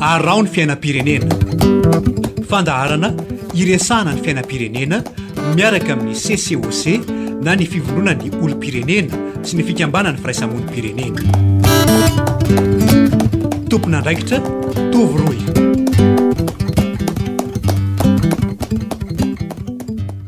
Araho ny fiainam-pirenena. Fandaharana iresahana ny fiainam-pirenena miaraka amin'ny CCOC na ny fivondronan'ny olom-pirenena sy ny fikambanan'ny firaisamonim-pirenena. Tompon'andraikitra Tovo Roy.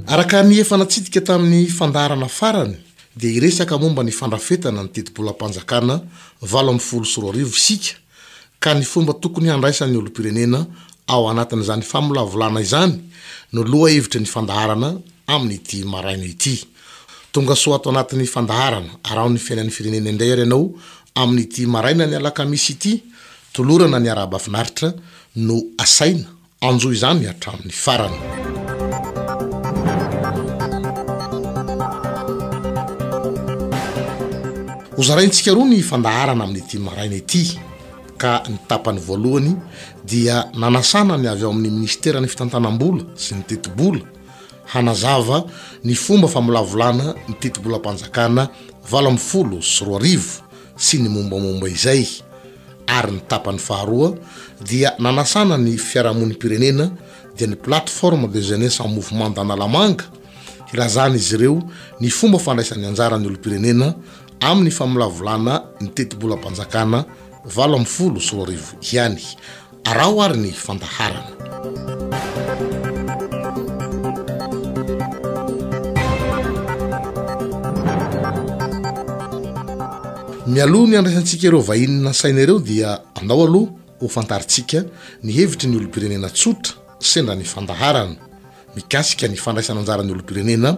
Araka ny efa natsidika tamin'ny fandaharana farany dia hiresaka momba ny fandrafetana ny tetibolam-panjakana valo ambin'ny folo sy roa arivo isika ka ny fomba tokony handraisan'ny olom-pirenena ao anatin'izany famolavolana izany no lohahevitry ny fandaharana amin'ity maraina ity. Tongasoa ato anatin'ny fandaharana Araho ny fiainan'ny firenena indray ary ianao amin'ity marainan'ny alakamisy ity, tolorana ny arahaba finaritra no asaina Anjo izany hatramin'ny farany. Hozaraintsika roa ny fandaharana amin'ity maraina ity ka ny tapany voalohany dia nanasana ny avy ao amin'ny ministeran'ny fitantanam-bola sy ny tetibola hanazava ny fomba famolavolana ny tetibolam-panjakana valo amin'ny folo sy roa arivo sy ny mombamomba izay ary ny tapany faharoa dia nanasana ny fiarahamonim-pirenena dia ny Plateforme de Jeunesse en Mouvement d'Analamanga hilazan'izy ireo ny fomba fandraisan'ny anjaran'ny olom-pirenena amin'ny famolavolana ny tetibolam-panjakana valo ambin'ny folo sy roa arivo ihany Araho ary ny fandaharana. Mialoha ny handraisantsika ireo vahiny nasaina ireo dia andao aloha ho fantarintsika ny hevitry ny olom-pirenena tsotra sendra ny fandaharana mikasika ny fandraisana anjaran'ny olom-pirenena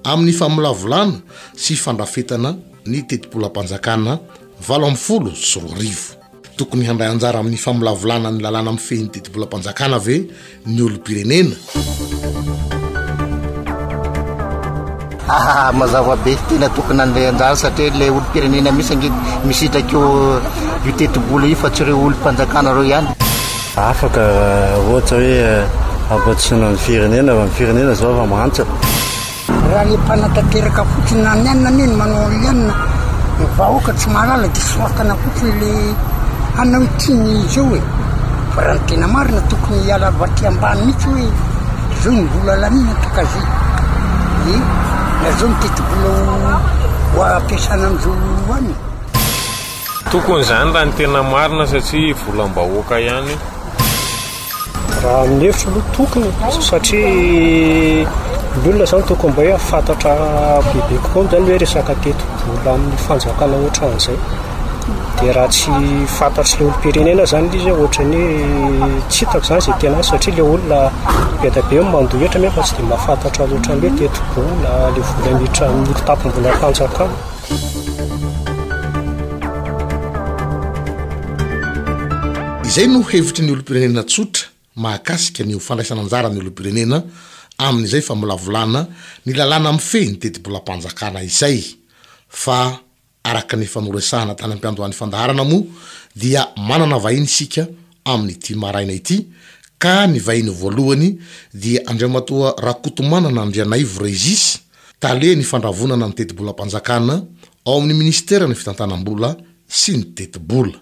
amin'ny famolavolana sy fandrafetana ny tetibolam-panjakana valo ambin'ny folo sy roa arivo. Tokony handray anjara amin'ny famolavolana ny lalàna mifehy ny didibolam-panjakana ve ny olom-pirenena? Haa mazava be tena tokony handray anjara satria ilay olom-pirenena mihitsy ange misitraka io io tetibola io fa tsy ireo olom-panjakana ireo ihany. Afaka ohatra hoe hampandrosoana ny firenena, ny firenena izao efa mahantra. Raha le mpanatanteraka fotsiny na ny anona anie no manao anle anona ny vahoaka tsy mahalala de soratana fotsiny le anona hoe tiany izy eo e fa raha ny tena marina tokony hiala avy aty ambany mitsy hoe zao ny vola lanina takaze e na zao ny tetibola ho ampiasana amizao any Tokony izany raha ny tena marina satria volam-bahoaka ihany io. Raha ny hevitro aloha tokony satria ny olona zany tokony mba hoe hafantatra bebe kokoa zany hoe resaka tetibola amin'ny fanjakana ohatran'izay dia raha tsy fantatry ny olom-pirenena zany ilay izy hoe ohatran'ny hoe tsy hitako zany izay tena azy satria ilay olona be dia be no mandoa hetra nefa tsy dia mahafantatra loatra ny hoe tetibola, ilay vola miditra amin'ny tapim-bolam-panjakana. Izay no hevitry ny olom-pirenena tsotra mahakasika ny ho fandraisana anjaran'ny olom-pirenena amin'izay famolavolana ny lalàna mifehy ny tetibolam-panjakana izay. Fa araka ny efa noresahana tany am-piandohan'ny fandaharana moa dia manana vahiny isika amin'ity maraina ity ka ny vahiny voalohany dia Andriamatoa Rakotomanana Andrianaivo Régis, Tale ny Fandravonana ny Tetibolam-panjakana ao amin'ny Minisiteran'ny Fitantanam-bola sy ny Tetibola.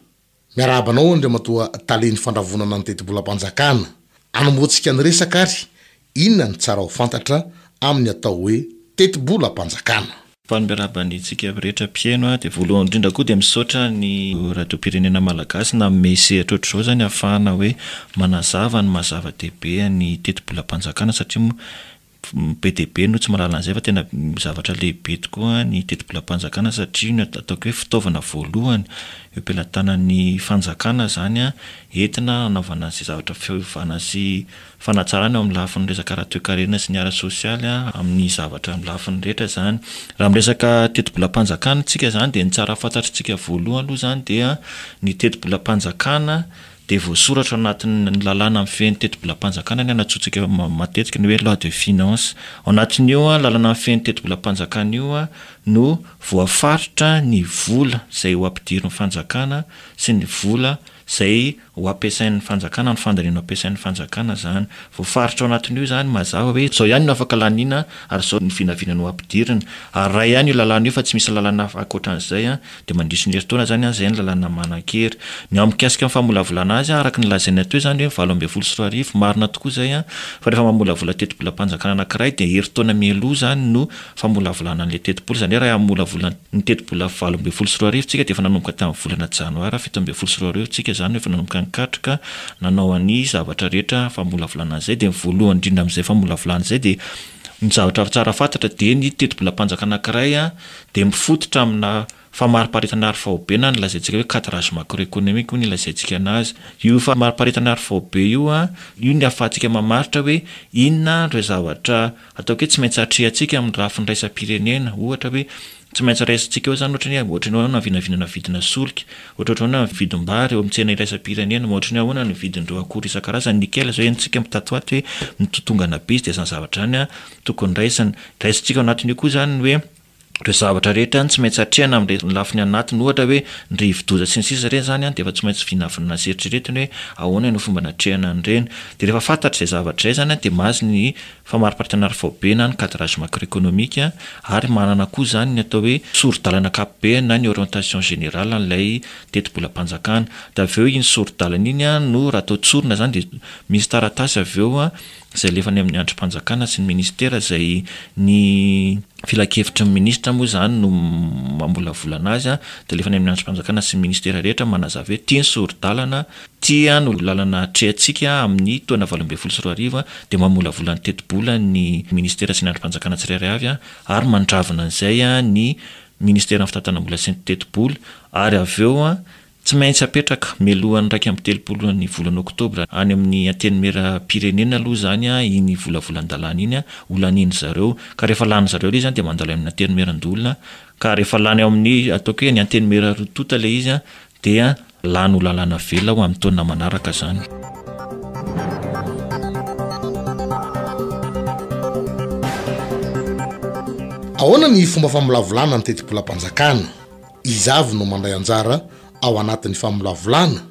Miarahaba anao Andriamatoa Tale ny Fandravonana ny Tetibolam-panjakana. Anombohantsika ny resaka ary Inona no tsara ho fantatra amin'ny atao hoe tetibolam-panjakana? Faly miarahaba antsika rehetra mpihaino aho dia voalohany indrindra koa dia misaotra ny radiom-pirenena malagasy nanome sehatra ohatr'izao izany ahafahana hoe manazava ny maha zava-dehibe ny tetibolam-panjakana satria moa be dia be no tsy mahalala an'izay fa tena zavatra lehibe tokoa ny tetibolam-panjakana satria io no ataoko hoe fitaovana voalohany eo am-pelatanan'ny fanjakana izany entina hanaovana izay zavatra fiovana sy fanatsarana eo amin'ny lafiny resaka ara-toekarena sy ny ara-sosialy amin'ny zavatra amin'ny lafiny rehetra izany. Raha miresaka tetibolam-panjakana isika izany dia ny tsara fantatr'isika voalohany aloha izany dia ny tetibolam-panjakana dia voasoratra ao anatin'ny lalàna mifehy ny tetibolam-panjakana ny anatsointsika matetika ny hoe loi de finance. Ao anatin'io lalana mifehy ny tetibolam-panjakana io no voafaritra ny vola izay ho ampidirin'ny fanjakana sy ny vola Izay ho ampiasain'ny fanjakana, ny fandaniana ho ampiasain'ny fanjakana izany. Voafaritra ao anatin'io izany mazava hoe izao ihany no afaka laniana ary izao ny vinavina no ampidirina. Ary raha ihany io lalàna io fa tsy misy lalàna hafa ankoatran'izay dia mandritry ny herintaona izany an, izay ny lalàna manan-kery. Ny mikasika ny famolavolana azy an, araka ny lazaina teo izany hoe valo ambin'ny folo sy roa arivo, marina tokoa izay an, fa rehefa mamolavola tetibolam-panjakana anankiray dia herintaona mialoha izany no famolavolana an'ilay tetibola, izany hoe raha hamolavola ny tetibola valo ambin'ny folo sy roa arivo tsika dia efa nanomboka tamin'ny volana janoary fito ambin'ny folo sy roa arivo tsika izany no efa nanomboka nikatroka nanao an'izay zavatra rehetra famolavolana an'izay dia ny voalohany indrindra amin'izay famolavolana izay dia ny zavatra tsara fantatra dia ny tetibolam-panjakana anankiray dia mifototra amina Famariparitana ara-faobe na ny lazaintsika hoe cadrage macroéconomique hoy ny lazaintsika anazy. Io famariparitana ara-faobe io, io ny ahafahantsika mamaritra hoe inona ireo zavatra ataoko hoe tsy maintsy atrehantsika amin'ny lafiny iraisam-pirenena. Ohatra hoe tsy maintsy raisintsika eo izany ohatra ny hoe ohatran'ny ahoana ny vinavinana vidina solika, ohatrohatry ny ahoana ny vidim-bary eo amin'ny tsena iraisam-pirenena, ohatry ny ahoana ny vidin'ireo akora isan-karazany, nickel izao henontsika mitatoato hoe mitotongana be izy dia izany zavatra izany tokony raisina. Raisintsika ao anatin'io koa izany ny hoe Ireo zavatra rehetra ihany tsy maintsy hatrehina amin'ireny lafiny anatiny ohatra hoe ny rivodoza sy ny sisa ireny izany an dia efa tsy maintsy vinavinaina sy eritreretina hoe ahoana no fomba natrehana an'ireny. Dia rehefa fantatra izay zavatra izay izany an dia mahazo ny famariparitana ary faobe na ny cadrage macroeconomique ary manana koa izany ny atao hoe soridalana ankapobeny na ny orientation générale an'ilay tetibolam-panjakana. Dia avy eo iny soridalana iny an no raha atao tsorina izany dia misy taratasy avy eo izay alefa any amin'ny andrim-panjakana sy ny minisitera izay ny filankevitry ny minisitra moa izany no mamolavola anazy dia alefa any amin'ny andrim-panjakana sy ny minisitera rehetra manazava hoe ity ny sori-dalana, ity no lalana atrehantsika amin'ny taona valo ambin'ny folo sy roa arivo dia mamolavola ny tetibola ny minisitera sy ny andrim-panjakana tsirairay avy ary mandravona an'izay ny minisiteran'ny fitantanam-bola sy ny tetibola ary avy eo Tsy maintsy apetraka, mialoha ny iraika amby telopolo ny volana oktobra, any amin'ny Antenimierampirenena aloha izany iny volavolan-dalàna iny ho lanian-dry zareo. Ka rehefa lanin'ny zareo ilay izy dia mandalo any amin'ny Antenimierandoholona. Ka rehefa lany ao amin'ny, ataoko hoe ny Antenimiera roa tonta ilay izy dia lany ho lalàna velona ho amin'ny taona manaraka izany. Ahoana ny fomba famolavolana ny tetibolam-panjakana? Iza avy no mandray anjara ao anatin'ny famolavolana?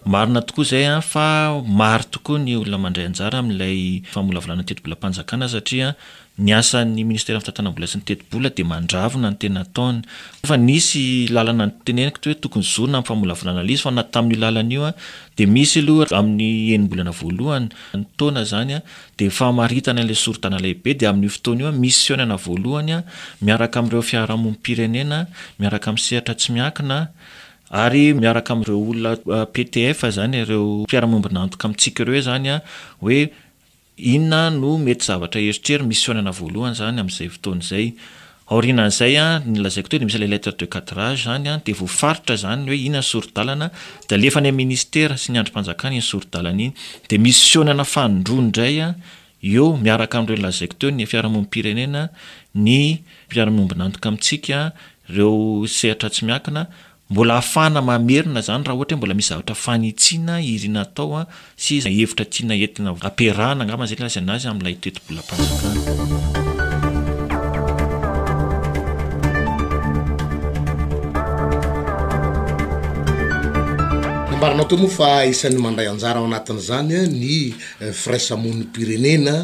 Marina tokoa izay fa maro tokoa ny olona mandray anjara amin'ilay famolavolana tetibolam-panjakana satria ny asan'ny ministeran'ny fitantanam-bola sy ny tetibola dia mandravona ny tena ataony. Efa nisy lalana niteneniko teo hoe tokony zorina ny famolavolana ilay izy fa na tamin'io lalana io dia misy aloha amin'ny enim-bolana voalohany ny taona izany dia famaritana ilay sorontana lehibe dia amin'io fotoana io misionana voalohany miaraka amin'ireo fiarahamonim-pirenena miaraka amin'ny sehatra tsy miankina ary miaraka amin'ireo olona PTF izany ireo mpiara-miombon'antoka amintsika ireo izany hoe inona no mety zavatra heritreriny misionana voalohany izany amin'izay fotoana izay Aorianan'izay, ny lazaiko teo dia misy ilay lettre de cadrage izany dia voafaritra izany ny hoe inona ny sori-dalana dia alefa any amin'ny ministera sy ny andrim-panjakana iny sori-dalana iny dia misy fihaonana fanindroany indray eo miaraka amin'ireny lazaiko teo ny fiarahamonim-pirenena, ny mpiara-miombon'antoka amintsika, ireo sehatra tsy miankina Mbola ahafahana mamerina izany raha ohatra hoe mbola misy zavatra fanitsiana irina atao sy hevitra tiana entina ampiarahana angamba izay no ilazana azy amin'ilay tetibolam-panjakana. Nambaranao teo moa fa isan'ny mandray anjara ao anatin'izany ny firaisamonim-pirenena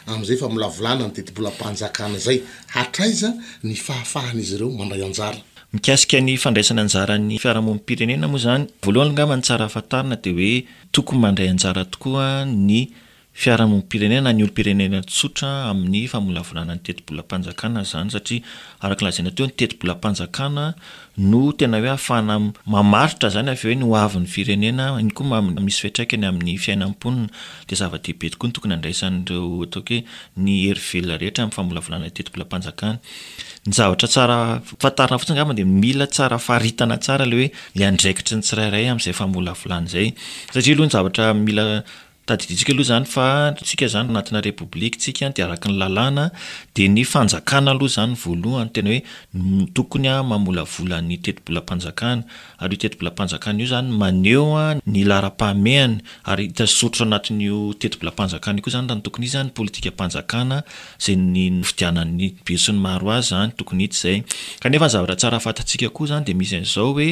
amin'izay famolavolana ny tetibolam-panjakana izay. Hatraiza ny fahafahan'izy ireo mandray anjara? Mikasika ny fandraisana anjara ny fiarahamonim-pirenena moa izany, voalohany angamba ny tsara fantarina dia hoe tokony mandray anjara tokoa ny fiarahamonim-pirenena na ny olom-pirenena tsotra amin'ny famolavolana ny tetibolam-panjakana izany satria araka ny lazaina teo ny tetibolam-panjakana no tena hoe ahafahana mamaritra izany avy eo ny ho avin'ny firenena, iny koa misy fiantraikany amin'ny fiainam-ponina dia zava-dehibe tokoa ny tokony handraisan'ireo ataoko hoe ny hery velona rehetra amin'ny famolavolana ny tetibolam-panjakana. Ny zavatra tsara fantarina fotsiny angamba dia mila tsara faritana tsara ilay hoe ilay andraikitry ny tsirairay amin'izay famolavolana izay. Satria aloha ny zavatra mila tadidintsika aloha izany fa isika izany anatina Repoblika isika dia araka ny lalàna dia ny fanjakana aloha izany voalohany tena hoe tokony mamolavola ny tetibolam-panjakana. ary io tetibolam-panjakana io izany maneho ny laharam-pahamehany ary hita sy soritra ao anatin'io tetibolam-panjakana io koa izany raha ny tokony hisy izany politikam-panjakana izay nifidianan'ny be sy ny maro azy izany tokony hita izay. Kanefa ny zavatra tsara fantatsika koa izany dia misy an'izao hoe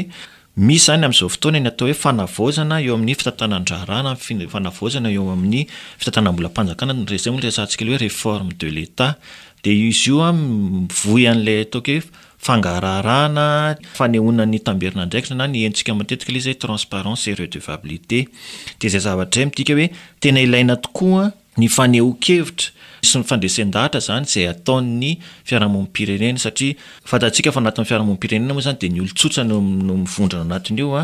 misy izany amin'izao fotoana ny atao hoe fanavaozana eo amin'ny fitantanan-draharaha na ny fanavaozana eo amin'ny fitantanam-bolam-panjakana na izay moa no resahantsika hoe réforme de l'Etat dia izy io mivoy an'ilay ataoko hoe fangaraharahana, fanehoana ny tamberin'andraikitra na ny hentsika matetika ilay izy hoe transparence et redevabilité. Dia izay zavatra izay midika hoe tena ilaina tokoa ny fanehoan-kevitra sy ny fandresen-dahatra izany izay ataon'ny fiarahamonim-pirenena satria fantatsika fa anatin'ny fiarahamonim-pirenena moa izany dia ny olon-tsotra no no mivondrona anatin'io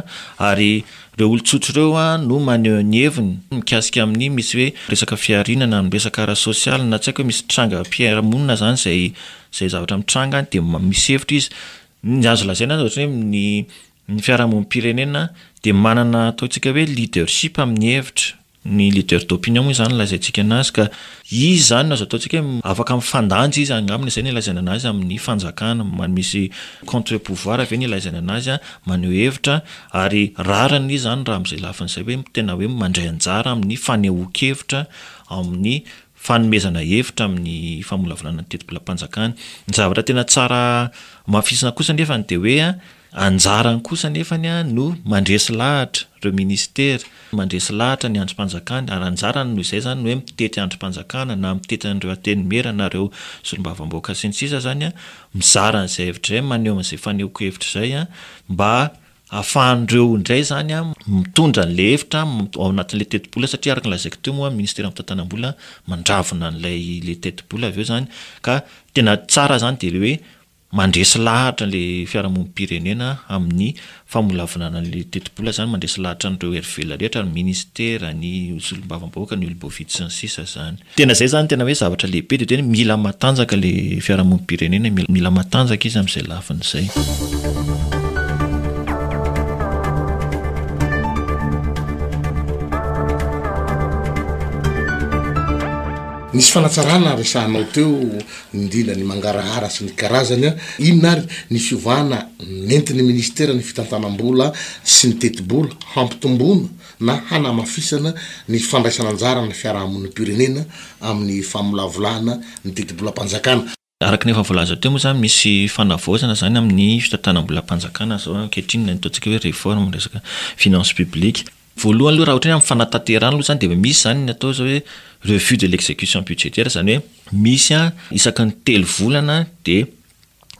ary ireo olon-tsotra ireo no maneho ny heviny mikasika amin'ny misy hoe resaka fihariana na ny resaka ara-sosialy na tsy haiko hoe misy trangam-piarahamonina izany izay izay zavatra mitranga dia misy hevitra izy. Ny azo lazaina azy ohatran'ny hoe ny ny fiarahamonim-pirenena dia manana ataontsika hoe leadership amin'ny hevitra, ny leader d'opinion moa izany lazaintsika anazy ka izy izany no azo ataontsika hoe afaka mifandanja izy angambany izay no ilazaina anazy amin'ny fanjakana, misy contre pouvoir ve no ilazaina anazy maneho hevitra ary rariny izy izany raha amin'izay lafiny izay hoe tena hoe mandray anjara amin'ny fanehoan-kevitra amin'ny fanomezana hevitra amin'ny famolavolana ny tetibolam-panjakana. Ny zavatra tena tsara hamafisina kosa nefany dia hoe anjarany kosa nefany no mandresy lahatra ireo minisitera, mandresy lahatra ny andrim-panjakana ary anjarany noho izay izany ny hoe mitety andrim-panjakana na mitety an'ireo antenimiera na ireo solombavambahoaka sy ny sisa izany mizara an'izay hevitra izay maneho an'izay fanehoan-kevitra izay mba Ahafahan'ireo indray izany mitondra an'ilay hevitra ao anatin'ilay tetibola satria araka ny lazaiko teo moa ny Ministeran'ny Fitantanam-bola mandravona an'ilay ilay tetibola avy eo izany ka tena tsara izany dia ilay hoe mandresy lahatra ilay fiarahamonim-pirenena amin'ny famolavolana an'ilay tetibola izany, mandresy lahatra an'ireo herivelona rehetra, ny Ministera, ny Solombavambahoaka, ny Oloboafidy sy ny sisa izany. Tena izay izany tena hoe zavatra lehibe dia tena mila matanjaka ilay fiarahamonim-pirenena, mila matanjaka izy amin'izay lafiny izay. Nisy fanatsarana resahanao teo nindrindra ny mangarahara sy ny karazany an, inona ary ny fiovana nentin'ny minisitera ny fitantanam-bola sy ny tetibola hampitomboana na hanamafisana ny fandraisan'anjaran'ny fiarahamonim-pirenena amin'ny famolavolana ny didibolam-panjakana. Araka ny efa voalaza teo moa izany, misy fanavaozana izany amin'ny fitantanam-bolam-panjakana izao ankehitriny, ilay ataontsika hoe réforme ny resaka finances publiques. Voalohany aloha raha ohatra hoe amin'ny fanatanterahana aloha izany dia misy izany ny atao izao hoe revue de l'exécution budgétaire, izany hoe misy isaky ny telo volana dia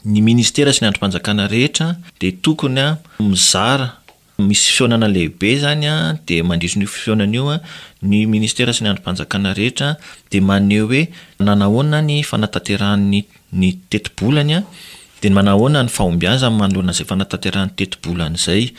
ny minisitera sy ny andrim-panjakana rehetra dia tokony mizara Misy fihaonana lehibe izany dia mandritry an'io fihaonana io ny Ministera sy ny andrim-panjakana rehetra dia maneho hoe nanahoana ny fanatanterahany ny tetibolany dia manahoana ny fahombiazany manoloana izay fanatanterahany tetibolany izay.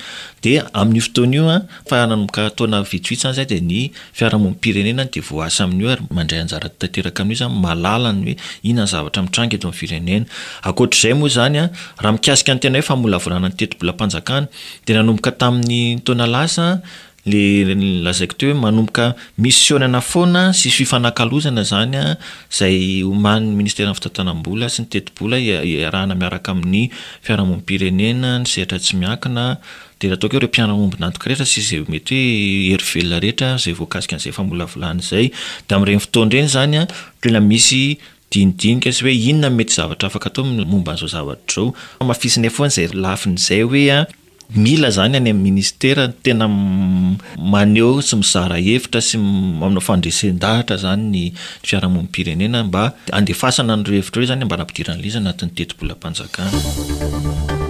Dia amin'io fotoana io fa nanomboka taona vitsivitsy izany izay dia ny fiarahamonim-pirenena dia voaasa amin'io ary mandray anjara tanteraka amin'io izany mahalala ny hoe inona ny zavatra mitranga eto amin'ny firenena. Ankoatr'izay moa izany raha mikasika ny tena hoe famolavolana ny tetibolam-panjakana Dia nanomboka tamin'ny taona lasa ilay lazaiko teo hoe manomboka misionana foana sy fifanakalozana izany izay omanin'ny Ministeran'ny Fitantanam-bola sy ny Tetibola iarahana miaraka amin'ny fiarahamonim-pirenena, ny sehatra tsy miankina, dia ataoko hoe ireo mpiara-miombon'antoka rehetra sy izay mety hoe hery velona rehetra izay voakasika an'izay famolavolana izay. Dia amin'ireny fotoana ireny izany dia tena misy Dinidinika sy hoe inona no mety zavatra afaka atao momba an'izao zavatra izao. Hamafisinay foana izay lafiny izay hoe mila izany any amin'ny minisitera tena maneho sy mizara hevitra sy manao fandresen-dahatra izany ny fiarahamonim-pirenena mba handefasana an'ireo hevitra ireo izany mba hampidiran'izy izy anatin'ny tetibolam-panjakana.